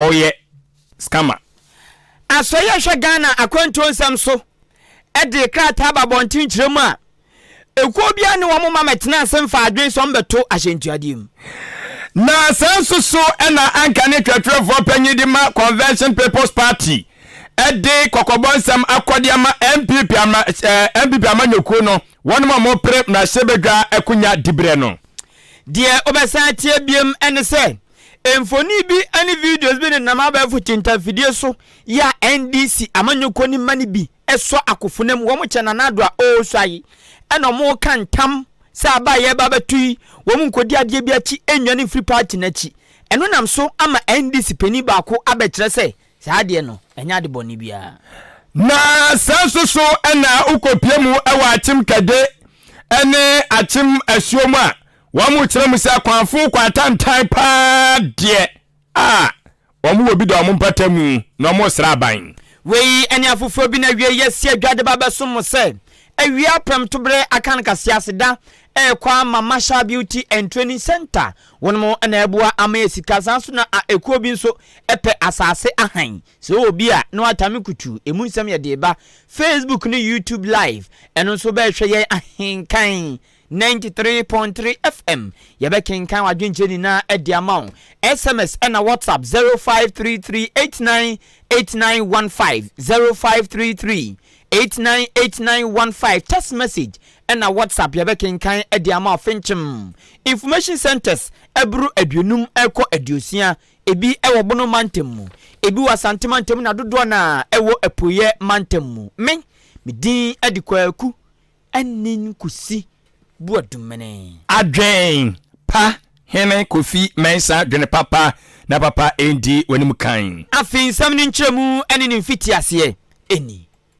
Ɔyɛ scammer. Asoɛe a ɛhwɛ Ghana akwantuo nsɛm so de krataa ba abɔnten kyerɛ mu a, ekuo biara ne wɔn ma mɛtena ase mfaa adwene sɛ wɔbɛto ahyɛntuadeɛ mu. Na saa nso so na anka ne twerɛtwerɛfoɔ panyin de ma Convention People's Party de kɔkɔbɔ nsɛm akɔ de ama NPP ama, eh, NPP amanyɔkuo no, wɔnom a wɔpere mmarahyɛbadwa akonya diberɛ no. Deɛ wobɛsan atie biom ne sɛ Mfoni bi ne videos bi nenam abɛɛfo tintanfidie so yi a NDC amanyɔkuoni mma no bi sɔ akofonam mu, wɔkyɛ Nana Addo a ɔresua yi na wɔreka ntam sɛ aba a yɛreba abɛto yi wɔn nkɔdi adeɛ bi akyi nnwane mfiri party no akyi. Ɛno nam so ama NDC panin baako abɛkyerɛ sɛ saa adeɛ no ɛnyɛ ade bɔne biara. Na saa nso so na wokɔpue mu wɔ Akyem Kade ne Akyem Asuo mu a Wɔkyerɛ mu sɛ akwanfo kɔ atantan paa deɛ a wɔwɔ bi da wɔn mpata mu na wɔresra aban. Wei ne afoforɔ bi na wiei asi adwa de ba abɛsom mo sɛ awia prɛmtobere Akan Kasease da rekɔ ama Marshall Beauty and Training Centre wɔn mo na ɛreboa ama yɛ sika saa nso na a ɛkuo bi nso pɛ asaase ahan sɛ ɔwɔ bi a na watame kutu ɛmu nsɛm yɛde ba Facebook ne YouTube live ɛno nso bɛrehwɛ yɛn ahenkan 93.3 FM, Yɛbɛkenkan w'adwenkyerɛ nyinaa de ama wo. SMS ɛna WhatsApp 0533898915, 0533898915, Text message ɛna WhatsApp yɛbɛkenkan de ama wo fenkyem. Information centres ɛboro aduonum ɛkɔ aduosia, ebi ɛwɔ Bono mantam mu, ebi wɔ Asante mantam na dodoɔ naa ɛwɔ Apueɛ mantam mu. Me, me din ɛde Kwaku. Anin Kosi Boadumenee. Adwen pa Hene Kofi Mensah dwene papa na papa ndi w'anim kan. Afei nsɛm no nkyerɛmu ne ne mfitiaseɛ ni.